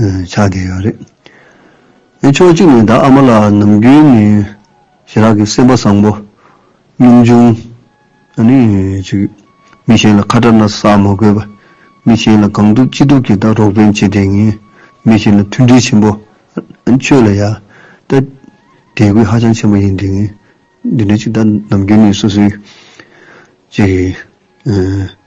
ཆགས་བསྡད་ཡོད་རེད། དེ་ཕྱོགས་གཅིག་ནས་ད་ཨ་མ་ལགས་ནམ་རྒྱུན་ནས་ཞི་རག་གི་སེམས་པ་བཟང་པོ། སྙོམས་ཆུང། ཨ་ནི་ཅིག། མི་གཞན་ལ་ཁ་གྲག་ན་ཟ་མ་དགོས་པ། མི་གཞན་ལ་གང་ཐུབ་ཅི་ཐུབ་ཀྱིས་ད་རོགས་ཕན་བྱེད་བསྡད་ངེས། མི་གཞན་ལ་མཐུན་སྒྲིལ་ཆེན་པོ། ཨ་ནི་ཆོས་ལ་ཡ། ཏེ། དད་གུས་ཧ་ཅང་ཆེན་པོ་ཡིན་བསྡད་ངེས། འདི་འདྲའི་ཅིག་ད་ནམ་རྒྱུན་ནས་སོ་སོའི། ཅིག།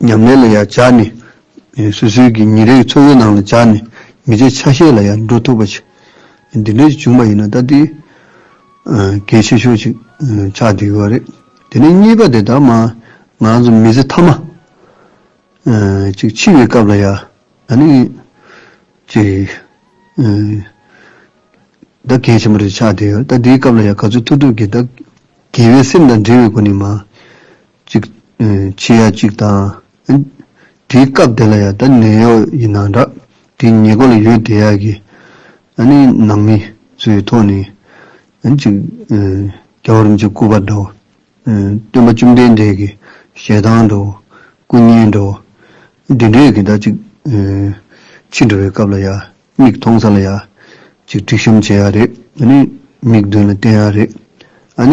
ཉམས་ལེན་ལ་ཡང་སྦྱར་ནས། སོ་སོའི་གི་ཉིན་རེའི་འཚོ་བའི་ནང་ལ་སྦྱར་ནས་མི་ཚེའི་ཆ་ཤས་ལ་ཡང་འགྲོ་ཐུབ་པ་ཅིག་འདི་འདྲའི་བྱུང་བ་ཡིན་ན་ད་དེ་གལ་ཆེ་ཤོས་ཅིག་ཆགས་བསྡད་ཡོད་རེད། དེ་ནས་གཉིས་པ་དེ་ལྟར་མ་ང་ཚོ་མི་ཚེ་མཐའ་མ་ཅིག་འཆི་བའི་སྐབས་ལ་ཡང་ད་ནི་ཅིག་ད་གལ་ཆེན་པོ་རེད་ཆགས་བསྡད་ཡོད་རེད་ད་དེའི་སྐབས་ལ་ཡང་ག་ཚོད་ཐུབ་ཐུབ་ཀྱིས་ད་དགེ་བའི་སེམས་དང་འབྲེལ་བའི་སྒོ་ནས་མ་ཅིག། ཕྱི་ཡ་གཅིག་དང། དེའི་སྐབས་དེ་ལ་ཡ་ད་ནད་གཡོག་ཡིན་ན་འདྲ། དེའི་ཉེ་སྐོར་ལ་ཡོད་དེ་ཡ་གི། ནང་མི། ཚོའི་ཐོག་ནས། ཅིག། རྒྱ་གར་རིན་ཆེན་སྐུ་པར་འདྲ། སྟོན་པ་བཅོམ་ལྡན་འདས་ཀྱི་ཞལ་ཐང་འདྲ། སྐུ་བརྙན་འདྲ། འདི་འདྲའི་གི་ད་ཅིག། ཕྱི་འགྲོ་བའི་སྐབས་ལ་ཡ། མིག་མཐོང་ས་ལ་ཡ། ཅིག་དཀྲིག་བཤམ་བྱེད་ཡ་རེད། མིག་མདུན་ལ་བསྟན་ཡ་རེད།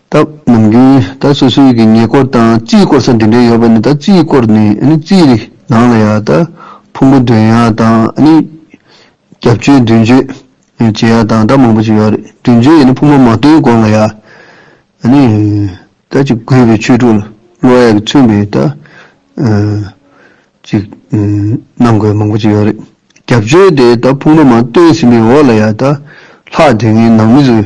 སྟབས་ནམ་རྒྱུན་ད་སོ་སོའི་གི་ཉེ་སྐོར་དང་རྩིས་སྐོར་ས་འདི་འདྲའི་ཡོད་པ་ནི་ད་རྩིས་སྐོར་ནི་ཨ་ནི་རྩིས་རིག་ནང་ལ་ཡང་ད་ཕུང་པོ་འདོན་ཡག་དང་ཨ་ནི་རྒྱབ་བཅོས་མདུན་བཅོས་བྱེད་ཡག་དང་ད་མང་པོ་ཅིག་ཡོད་རེད་མདུན་བཅོས་ཡིན་ན་ཕུང་པོ་མ་བཏོན་དགོང་ལ་ཡག་ཨ་ནི་ད་ཅིག་དགོས་པའི་ཆོས་དྲུག་ལ་བློ་ཡག་གི་མཚོན་པའི་ད་ཅིག་གནང་དགོས་མང་པོ་ཅིག་ཡོད་རེད་རྒྱབ་བཅོས་དེ་ད་ཕུང་པོ་མང་བཏོན་ཟིན་པའི་འོག་ལ་ཡག་ད་ལྷག་དེ་ངའི་ནང་མི་ཚོས་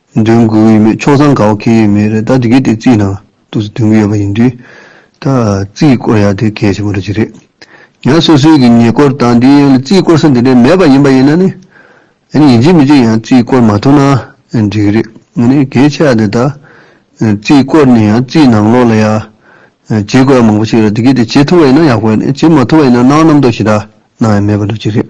འདོན་དགོས་ཀྱི་ཡོད་མེད་ཕྱོགས་མཚམས་ག་བ་ཁེལ་ཡོད་མེད་རེད་ད་དེ་གའི་དེ་རྩིས་ནང་དུ་འདོན་གྱི་ཡོད་པ་ཡིན་དུས། ད་རྩིས་སྐོར་ཡག་དེ་གལ་ཆེན་པོ་རེད་ཅི་རེད། ཡང་སོ་སོའི་གི་ཉེ་སྐོར་དང་དེའི་ཡང་ལ་རྩིས་སྐོར་ས་འདི་འདྲའི་མེད་པ་ཡིན་པ་ཡིན་ན་ནི། ཡང་ཡིན་གཅིག་མིན་གཅིག་ཡང་རྩིས་སྐོར་མ་ཐོབ་ན་འགྲིག་གི་རེད་ངས་ནི་གལ་ཆེ་བ་དེ་ད་རྩིས་སྐོར་ནི་ཡང་རྩིས་ནང་ལོགས་ལ་ཡང་བྱེད་དགོས་པ་མང་པོ་ཞིག་རེད་དེ་གའི་དེ་བྱེད་ཐུབ་པ་ཡིན་ན་ཡག་པོ་ཡིན་བྱེད་མ་ཐུབ་པ་ཡིན་ན་གནང་རྣམ་རྟོག་ཞིག་ད་ནང་ཡང་མེད་པ་འགྲོ་ཅི་རེད།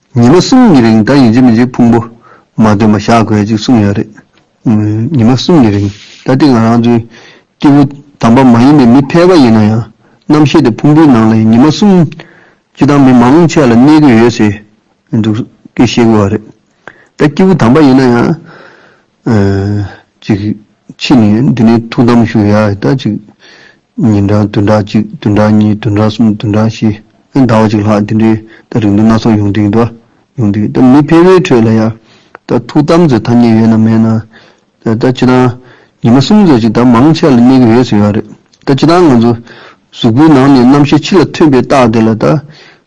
ཉི་མ་གསུམ་གྱི་རིང་ད་ཡིན་གཅིག་མིན་གཅིག་ཕུང་པོ་མ་སྟོན་པ་བཞག་དགོས་ཅིག་གསུངས་ཡོད་རེད། ཉི་མ་གསུམ་གྱི་རིང་ད་དེ་ང་རང་ཚོའི་སྐྱེ་བོ་དམ་པ་མ་ཡིན་པའི་མི་ཕལ་པ་ཡིན་ན་ཡང་རྣམ་ཤེས་དེ་ཕུང་པོའི་ནང་ལ་ཡིན་ཉི་མ་གསུམ་སྤྱི་དང་མི་མང་ཆེ་བ་ལ་གནས་དགོས་ཡོད་ཟེར་འདུག་ཀི་ཤེས་དགོས་བ་རེད། ད་སྐྱེ་བོ་དམ་པ་ཡིན་ན་ཡང། ཅིག། ཕྱིས་ནས་འདི་ནས་ཐུགས་དམ་ཞུ་ཡ་ཨི་ད་ཅིག། ཉིན་གྲངས་བདུན་ཕྲག་གཅིག་བདུན་ཕྲག་གཉིས་བདུན་ཕྲག་གསུམ་བདུན་ཕྲག་བཞི། ཟླ་བ་གཅིག་ལྷག་འདི་འདྲའི་ད་རིང་དུ་སྣ་ཚོགས་ཡོང་དུས་འདུག་ཡོང་དུས་ད་མི་ཕལ་བའི་ཁྲོད་ལ་ཡ། ད་ཐུགས་དམ་ཟེར་ཐ་སྙད་ཡོད་ན་མེད་ན། ད་ད་ཅི་དང། ཉི་མ་གསུམ་ཟེར་ཅིག་ད་མང་ཆེ་ལ་གནས་གི་ཡོད་ཟེར་ཡོད་རེད། ད་ཅི་དང་ང་ཚོ། གཟུགས་པོའི་ནང་ནས་རྣམ་ཤེས་ཕྱི་ལ་ཐོན་པའི་རྟགས་དེ་ལ་ད།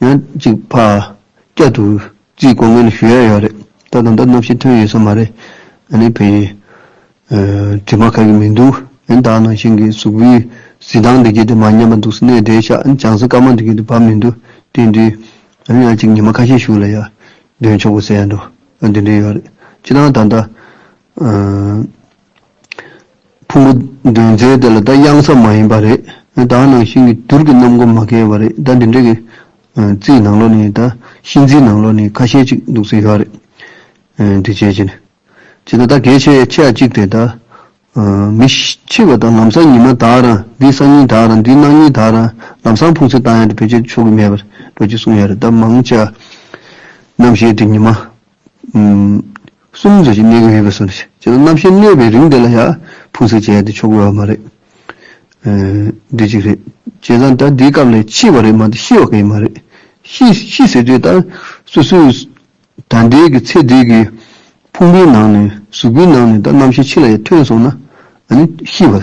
ཡང་གཅིག་ཕ་སྐད་དུ་རྩིས་གོ་ངེས་ཞུ་ཡས་ཡོད་རེད་ད་དང་ད་གནམ་ཤིས་ཐོན་ཡོད་ས་མ་རེད་ཨ་ནི་བེ་ཡི་དྲི་མ་ཁ་གི་མི་འདུག་ཡིན་ད་ནང་བཞིན་གི་གཟུགས་པོའི་གཟི་དང་འདི་གྱེས་དེ་མ་ཉམས་པ་འདུག་སྣེ་འདྲེ་ཤག་ཅང་ཟི་དཀར་མ་འདི་གྱེས་དེ་བབས་མི་འདུག་དེ་འདྲའི་ཨ་ནི་ཡང་གཅིག་ཉི་མ་ཁ་ཤས་ཞུ་ལ་ཡ་འདོན་ཆོག་གི་ཟེར་ཡ་འདུག་འདི་འདྲའི་ཡོད་རེད་ཅི་དང་ད་ད་ཕུང་པོ་འདོན་རྩལ་དེ་ལ་ད་གཡང་ས་མ་ཡིན་པ་རེད། ད་ནང་བཞིན་གྱི་དུར་གྱི་གནམ་སྒོ་མ་གལ་བ་རེད་ད་འདི་འདྲའི་གི་རྩིའི་ནང་ལོགས་ནས་ད་གཤིན་རྩིའི་ནང་ལོགས་ནས་ཁ་ཤས་ཅིག་འདུག་ས་ཡོད་རེད། འདི་བྱས་ཀྱི་ནི། བྱས་ན་ད་གལ་ཆེ་ཆེ་ཡ་ཅིག་དེ་ད། མི་འཆི་བ་ད་ལམ་སང་ཉི་མ་དག་རང་འདིའི་སང་ཉིན་དག་རང་འདིའི་གནངས་ཉིན་དག་རང་ལམ་སང་ཕུང་ཚེ་ད་ཡང་འདི་བོད་ཆས་ཆོག་གི་མེད་པར་འགྲོ་ཀྱི་གསུངས་ཡོད་རེད་ད་མང་ཆེ་བ་རྣམས་ཞེས་འདི་ཉི་མ། གསུམ་ཟེར་གྱི་གནས་གི་མེད་པས་སོ། ཅི་ལ་རྣམ་ཤེས་གནས་པའི་རིང་དེ་ལ་ཡང་ཕུང་སེལ་བྱས་ཏེ་ཆོག་དགོས་བ་མ་རེད། འདི་གཅིག་རེད། བྱས་ཙང་ད་འདིའི་སྐབས་ལས་འཆི་བ་རེད་མ་ཏི་ཤི་བ་གས་མ་རེད། ཤི་ཟེར་དུས་ད་སུ་སུས་ད་འདས་ཀི་ཚེ་འདས་ཀི་ཕུང་པོའི་ནང་ནས་གཟུགས་པོའི་ནང་ནས་ད་རྣམ་ཤེས་འཆི་ལ་ཡང་ཐོན་སོང་ན་ཨ་ནི་ཤི་བ།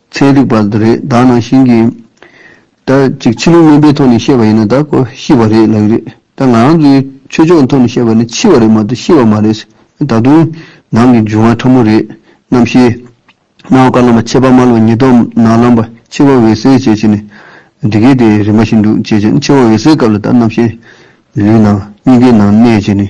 ཚན་རིག་པར་དུ་རེད་བདག་ནང་བཞིན་གྱི། ད་ཅིག་ཕྱི་ལུགས་དངོས་པའི་ཐོག་ནས་བཤད་པ་ཡིན་ན་ད་ཀོ་ཤི་བ་རེད་ལགས་རེད་ད་ང་རང་ཚོའི་ཆོས་ཕྱོགས་ཐོག་ནས་བཤད་པ་ནི་འཆི་བ་རེད་མ་གཏོགས་ཤི་བ་མ་རེད། ད་དུང་ནང་གི་འབྱུང་བ་ཕྲ་མོ་རེད། རྣམ་ཤེས། སྣང་བ་བཀའ་ལམ་པ་ཆད་པ་མ་ལོ་ཉིས་སྟོང་ནང་ལམ་པ་འཆི་བ་འོད་གསལ་བྱས་བྱས་ནས་འདི་སྐད་དེ་རིན་པ་ཞིག་འདུག་བྱས་བྱས་ནས་འཆི་བ་འོད་གསལ་སྐབས་ལ་ད་རྣམ་ཤེས། ལུས་ནང་སྙིང་གའི་ནང་གནས་བྱས་ནས།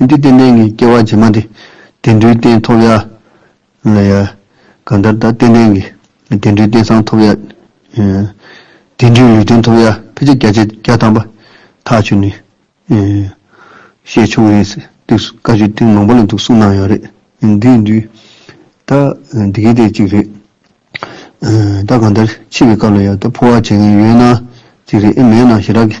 འདི་ལྟའི་གནས་ངན་སྐྱེ་བ་རྗེས་མ་འདི། དེ་འདྲའི་རྟེན་ཐོབ་ཡ། གང་ལྟར་ད་ལྟའི་གནས་ངན། དེ་འདྲའི་རྟེན་སང་ཐོབ་ཡ། དེ་འདྲའི་ལུས་རྟེན་ཐོབ་ཡ་ཕལ་ཆེར་བརྒྱ་ཆའི་བརྒྱ་ཐམ་པ་ཐག་ཆོད་ནི། ཞེས་ཆུང་ངུའི་དུས་སུ་བཀའ་ཆོས་ཐེངས་མང་པོ་ལ་འདུག་གསུངས་གནང་ཡོད་རེད། འདིའི་དུས་ད་འདི་གའི་ཐད་ཅིག་རེད། ད་གང་ལྟར་འཆི་བའི་སྐབས་ལ་ཡང་ད་ཕོ་བ་བྱེད་མཁན་ཡོད་ན་ཅིག་རེད་ཨེ་མེད་ན་ཞེ་དྲག་གི།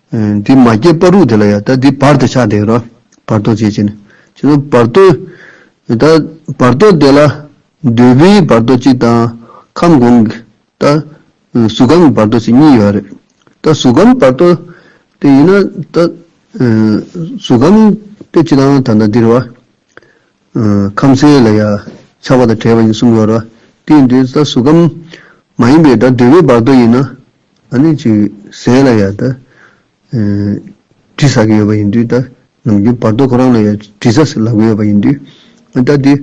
འདི་མ་སྐྱེས་པ་རུ་དེ་ལ་ཡང་ད་འདི་བར་དུ་ཆགས་འདེགས་རང་བར་དོ་བྱེད་ཅེ་ན། ཅེ་ན་བར་དོ། ད་བར་དོ་དེ་ལ་འདོད་པའི་བར་དོ་གཅིག་དང། ཁམས་གོང་གི། ད་གཟུགས་ཁམས་ཀྱི་བར་དོ་ཞེས་གཉིས་ཡོད་པ་རེད། ད་གཟུགས་ཁམས་བར་དོ་དེ་ཡིན་ན། ད་གཟུགས་ཁམས་དེ་ཅི་དང་ད་ན་འདིར་བ། ཁམས་གསལ་ལ་ཡང་ཆགས་པ་དང་བྲལ་བ་ཡིན་གསུམ་ཡོད་རོ། དེ་ཡིན་དུས་ད་གཟུགས་ཁམས་མ་ཡིན་པའི་ད་འདོད་པའི་བར་དོ་ཡིན་ན། ཨ་ནི་ཅིག་ཟས་ལ་ཡང་དགྲ་བྲིས་ཟ་གི་ཡོད་པ་ཡིན་དུས་ད་ནམ་རྒྱུན་བར་དོ་ཁོ་རང་ལ་ཡང་བྲིས་ཟ་ཟེར་ལབ་གི་ཡོད་པ་ཡིན་དུས་ད་དེ་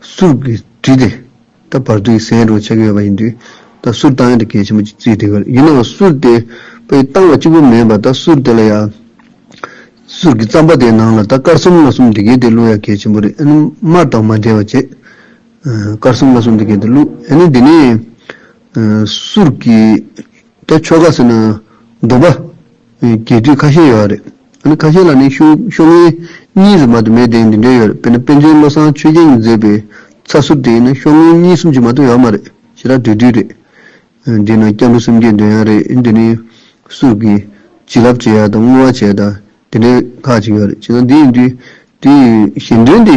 སུར་གི་བྲིས་ཏེ་ད་བར་དོ་ཡི་ཟས་འགྲོ་བྱེད་ཀྱི་ཡོད་པ་ཡིན་དུས་ད་སུར་བཏང་ཡང་དེ་གལ་ཆེན་པོ་ཅིག་བརྩིས་ཏེ་གར་ཡིན་ནའང་སུར་དེ་པའི་བཏང་བ་གཅིག་པུ་མིན་པར་ད་སུར་དེ་ལ་ཡང་སུར་གི་རྩམ་པ་དེའི་ནང་ལ་ད་དཀར་གསུམ་ལ་གསུམ་དེ་གའི་དེ་བླུག་ཡང་གལ་ཆེན་པོ་རེད་ཨ་ནི་མར་དང་མ་འབྲེལ་བ་བྱེད་དཀར་གསུམ་ལ་གསུམ་དེ་གའི་དེ་བླུག་ཨ་ནི་དེ་ནས། གསུར་གྱི་རྒྱ་ཆོ་ག་ཟེར་ན་སྡོམ་པ་རྒྱས་བསྡུས་ཁ་ཤས་ཡོད་རེད། ཨ་ཁ་ཤས་ལ་ནི་ཤོག་ངན་གཉིས་སུ་མ་དུ་མའི་གདེང་འདི་འདྲའི་ཡོད་རེད་དཔེར་ན་དཔལ་ཆེན་བློ་བཟང་ཆོས་རྒྱལ་གྱིས་མཛད་པའི་ཚ་གསུར་དེ་ཡིན་ན་ཤོག་ངན་གཉིས་གསུམ་གྱིས་མ་གཏོགས་ཡོད་མ་རེད་ཞེ་དྲག་དུས་དུས་རེད། དེས་ན་སྐྱབས་འགྲོ་སེམས་བསྐྱེད་འདོན་ཡག་རེད་འདི་ནི་གསུར་གྱི་བྱིན་རླབས་བྱེད་ཡག་དང་བསྔོ་བ་བྱེད་ཡག་དང་དེ་འདྲའི་ཁག་ཅིག་ཡོད་རེད་ཅེ་ན་འདི་ཡིན་དུས་དེའི་གཞན་དོན་དེ་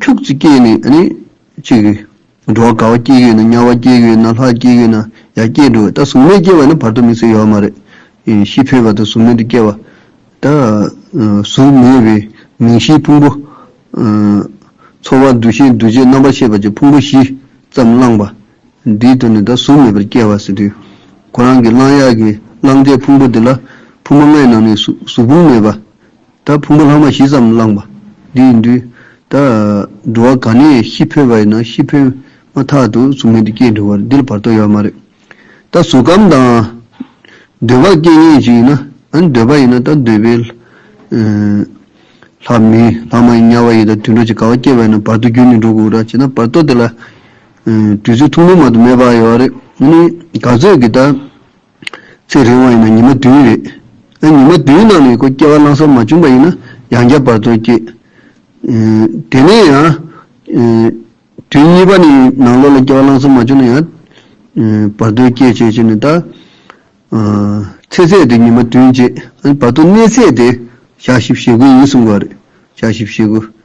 ཁྱུག་ཙིག་སྐྱེས་ནས་ཨ་ནི། ཅིག། འགྲོ་བ་དགའ་བ་སྐྱེས་ཡོད་ན་དམྱལ་བ་སྐྱེས་ཡོད་ན་ལྷ་སྐྱེས་ཡོད་ན་ཡར་སྐྱེས་འགྲོ་བས་ད་གཟུགས་མེད་སྐྱེས་བ་ནི་བར་དོ་མི་ཚེ་ཡོད་མ་རེད། ཤི་འཕོས་པ་དང་གཟུགས་མེད་དུ་སྐྱེས་བ། ད། གཟུགས་མེད་བའི་མིང་བཞིའི་ཕུང་པོ། ཚོར་བ་འདུ་ཤེས་འདུ་བྱེད་རྣམ་པར་ཤེས་པ་བཅས་ཕུང་པོ་བཞི་ཙམ་བླངས་པ། འདིའི་དོན་ནི་ད་གཟུགས་མེད་པར་སྐྱེས་བ་ཟེར་དུས། ཁོ་རང་གིས་བླངས་ཡག་གི་བླངས་འདས་ཕུང་པོ་འདི་ལ་ཕུང་པོ་ལྔའི་ནང་ནས་གཟུགས་ཕུང་མེད་པ། ད་ཕུང་པོ་ལྷག་མ་བཞི་ཙམ་བླངས་པ་འདི་ཡིན་དུས། ད་འགྲོ་བ་ག་ནས་ཤི་འཕོས་པ་ཡིན་ན་ཤི་འཕོས་མ་ཐག་ཏུ་གཟུགས་མེད་དུ་སྐྱེས་འགྲོ་བར་འདི་ལ་བར་དོ་ཡོད་མ་རེད། ད་གཟུགས་ཁམས་དང། འདོད་པ་སྐྱེ་ངེས་ཅིག་ཡིན་ན། འདོད་པ་ཡིན་ན་ད་འདོད་པའི། ལྷ་མིན་ལྷག་མ་ཡིན་དམྱལ་བ་ཡིན་ད་དུད་འགྲོ་ཅིག་ག་བ་སྐྱེས་པ་ཡིན་ན་བར་དོ་རྒྱུན་ནི་འགྲོ་དགོས་ར་བྱེད་ན་བར་དོ་དེ་ལ། དུས་ཚོད་ཐུང་ཐུང་མ་དུ་མེད་པ་ཡོད་རེད། ག་ཚོད་ཀྱི་ད། ཚེ་རིང་བ་ཡིན་ན་ཉི་མ་བདུན་རེད། ཨ་ཉི་མ་བདུན་ནང་ལ་ཡོད་སྐོར་སྐྱེ་བ་གླང་སོགས་མ་བྱུང་པ་ཡིན་ན་ཡང་བརྒྱ་བར་དོར་སྐྱེ། དེ་ནས་ཡང། དུས་གཉིས་པ་ནི་ནང་ལོགས་ལ་སྐྱེ་བ་གླང་སོགས་མ་བྱུང་ན་ཡང། བར་དོའི་སྐྱེ་བྱེད་ཅེས་ནི་ད། ཚེ་ཚད་དེ་ཉི་མ་བདུན་བྱེད། བར་དོ་གནས་ཚད་དེ་ཞག་བཞི་བྱེད་དགུ་ཡིན་གསུང་བ་རེད། ཞག་བཞི་བྱེད་དགུ།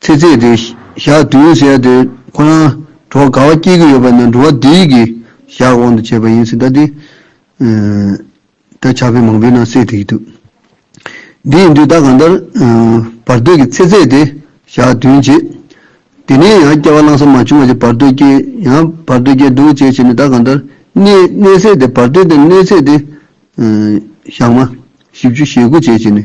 ཚེ་ཚད་དེ་ཞག་བདུན་ཟེར་ཡ་དེ་ཁོ་རང་གྲོགས་ག་བ་སྐྱེས་ཀྱི་ཡོད་པ་ན་འགྲོ་བ་དེ་ཡི་གི་ཞག་དབང་དུ་བྱས་པ་ཡིན་སྲིད་ད་དེ། ད་ཆ་བོད་མང་པོའི་ནང་གསལ་ཐིག་གི་འདུག་དེ་ཡིན་དུས་ད་གང་ལྟར་བར་དོའི་གི་ཚེ་ཚད་དེ་ཞག་བདུན་བྱེད། དེ་ནས་ཡང་སྐྱ་བ་བླང་ས་མ་བྱུང་བ་ཅིག་བར་དོའི་སྐྱེས་ཡང་བར་དོའི་སྐྱེས་འདུག་བྱས་བྱས་ནས་ད་གང་ལྟར་གནས་གནས་ཚད་དེ་བར་དོའི་དེ་གནས་ཚད་དེ་ཞག་མ་བཞི་བཅུ་ཞེ་དགུ་བྱས་བྱས་ནས།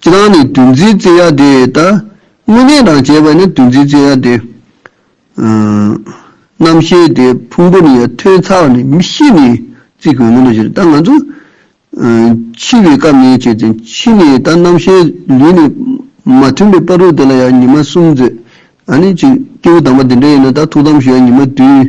ཁྱེད་རང་ནི་དུས་འཛིན་བརྩེ་ཡ་དེ་ད། དངོས་གནས་རང་བྱས་པ་ནི་དུས་འཛིན་བརྩེ་ཡ་དེ། རྣམ་ཤེས་དེ་ཕུང་པོ་ནི་ཡང་ཐོས་ཚར་བ་ནི་མི་ཤེས་ནི་རྩིས་དགོས་མིན་དུ་བཞེད་ད་ང་ཚོ། འཆི་བའི་སྐབས་ནས་བྱས་ཏེ་འཆི་ནས་ད་རྣམ་ཤེས་ལུས་ནི་མ་མཐུན་པའི་པར་རུ་དེ་ལ་ཡང་ཉི་མ་གསུམ་མཛོད། ཨ་ནི་ཅིག་སྐྱེས་བུ་དམ་པ་འདི་འདྲ་ཡིན་ན་ད་ཐུགས་དམ་ཞུ་ཡ་ཉི་མ་དུས།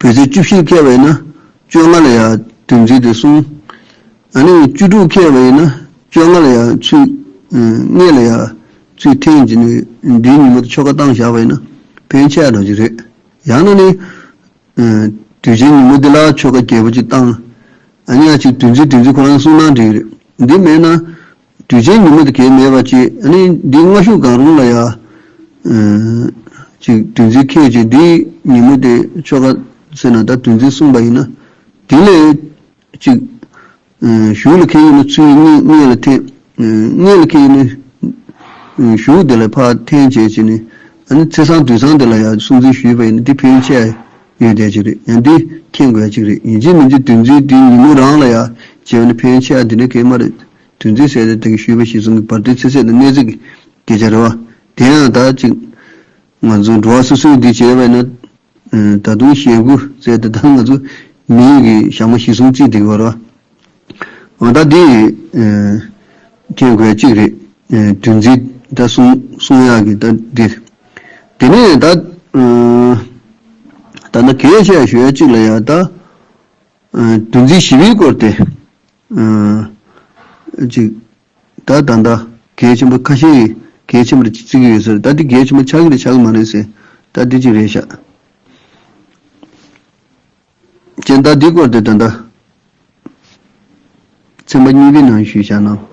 བོད་ཚེས་བཅུ་བཞིར་ཁེལ་བ་ཡིན་ན་བཅོ་ལྔ་ལ་ཡང་དུས་འཛིན་ཏེ་གསུངས། ད་ནི་བཅུ་དྲུག་ཁེལ་བ་ཡིན་ན་བཅོ་ལྔ་ལ་ཡང་ཚུད། ལྔས་ལ་ཡང་ཚུད་ཐེངས་གཅིག་ནི་འདིའི་ཉིན་མོ་དེ་ཆོ་ག་གཏང་བཞག་པ་ཡིན་ན་ཕན་ཆད་རང་བཞིན་རེད། ཡང་ན་ནི། དུས་ཆེན་ཉིན་མོ་འདི་ལ་ཆོ་ག་རྒྱས་པོ་གཅིག་གཏང། ཉག་གཅིག་དུས་འཛིན་དུས་འཛིན་ཁོ་རང་གསུངས་ན་འགྲིག་རེད། འདི་མེད་ན། དུས་ཆེན་ཉིན་མོ་དེ་གས་མེད་པ་གཅིག་ནི་འདིའི་སྔ་གཞུག་གང་རུང་ལ་ཡང། གཅིག་དུས་འཛིན་ཁེད་ཀྱིས་འདིའི་ཉིན་མོ་དེ་ཆོ་ག་ཟེར་ན་ད་དུས་འཛིན་གསུངས་པ་ཡིན་ན། དེ་ལས། གཅིག། གཞུག་ལ་ཁེད་ཡིན་ན་ཚུལ་གཉིས་མངལ་ལ་འཐེན། མངལ་ལ་ཁེད་ཡིན་ན། གཞུག་དེ་ལ་ཕར་འཐེན་བྱེད་ཅིག་ནི། ཚེས་གསང་དུས་གསང་དེ་ལ་ཡང་སྲུང་འཛིན་ཞུས་པ་ཡིན་ན་འདི་ཕན་ཆད་ཡོད་བསྡད་ཅིག་རེད་ཡང་འདི་མཁྱེན་དགོས་ཅིག་རེད་ཡིན་གཅིག་མིན་གཅིག་དུས་འཛིན་འདིའི་ཉིན་མོ་རང་ལ་ཡང་བྱེད་པ་ནི་ཕན་ཆད་འདི་འདྲ་གས་མ་རེད། དུས་འཛིན་སའི་སྟེང་གི་ཤུལ་བུ་ཞིག་བཟུང་གི་བར་དོའི་ཚིག་ཚད་དང་གནད་གཟིགས་ཀྱི་སྐད་ཆ་རེ་བ། དེ་ཡང་དག་ཅིག། ང་ཚོ་འགྲོ་བ་སོ་སོའི་འདི་བྱས་པས་ན། ད་དུང་ཞེད་དགུ་བཙལ་ཏེ་ད་ང་ཚོ་མི་ཡུལ་གྱི་ཞྭ་མོ་ཞིག་བཟུང་རྩིས་འདི་གི་བར་བ། འོ་ད་འདི། མཁྱེན་དགོས་གཅིག་རེད། དུས་འཛིན་ད་གསུང་གསུང་ཡག་གི་ད་འདི། དེ་ནས་ད། ད་ནི་གས་བཤད་ཞུ་ཡ་གཅིག་ལ་ཡ་ད། དུས་འཛིན་ཞི་བའི་སྐོར་དེ། ཅིག། ད་ད་ལྟ་གལ་ཆེན་པོ་ཁ་ཤས་ཡིས་གལ་ཆེན་པོར་བརྩི་གི་ཡོད་ཟེར། ད་འདི་གལ་ཆེན་པོ་ཆགས་ཀྱི་རེད་ཆགས་ཀྱི་མ་རེད་ཟེར། ད་འདི་ཅིག་རེད་ཤག། ཅེས་ད་འདིའི་སྐོར་དེ་ད་ལྟ་ཚན་པ་གཉིས་པའི་ནང་ཞུས་བྱ་གནང།